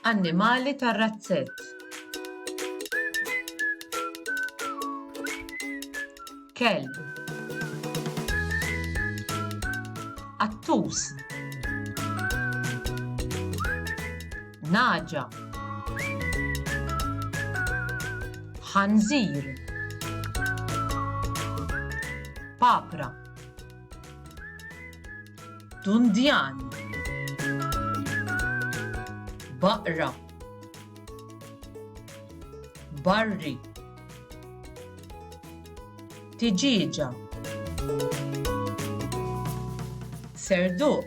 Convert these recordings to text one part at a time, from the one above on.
Annimali tar-razzett. Kelb. Attus. Naġa. Ħanżir. Papra. Dundjan Baqra Barri Tiġiġa Serduq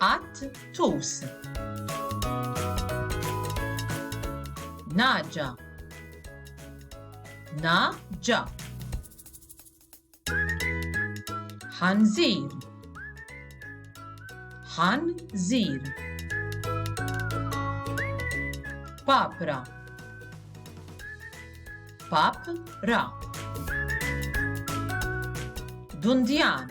Qatt tus. Naġa. Na ġa. Ħanżir. Ħanżir. Papra. Papra. Dundjan.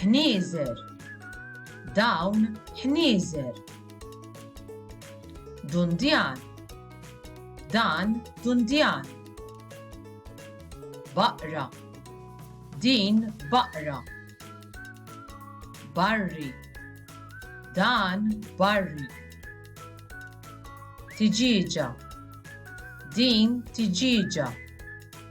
ħnieżer dawn ħnieżer dundjan dan dundjan baqra din baqra barri dan barri tiġieġa din tiġieġa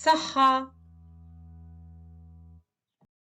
Saħħa!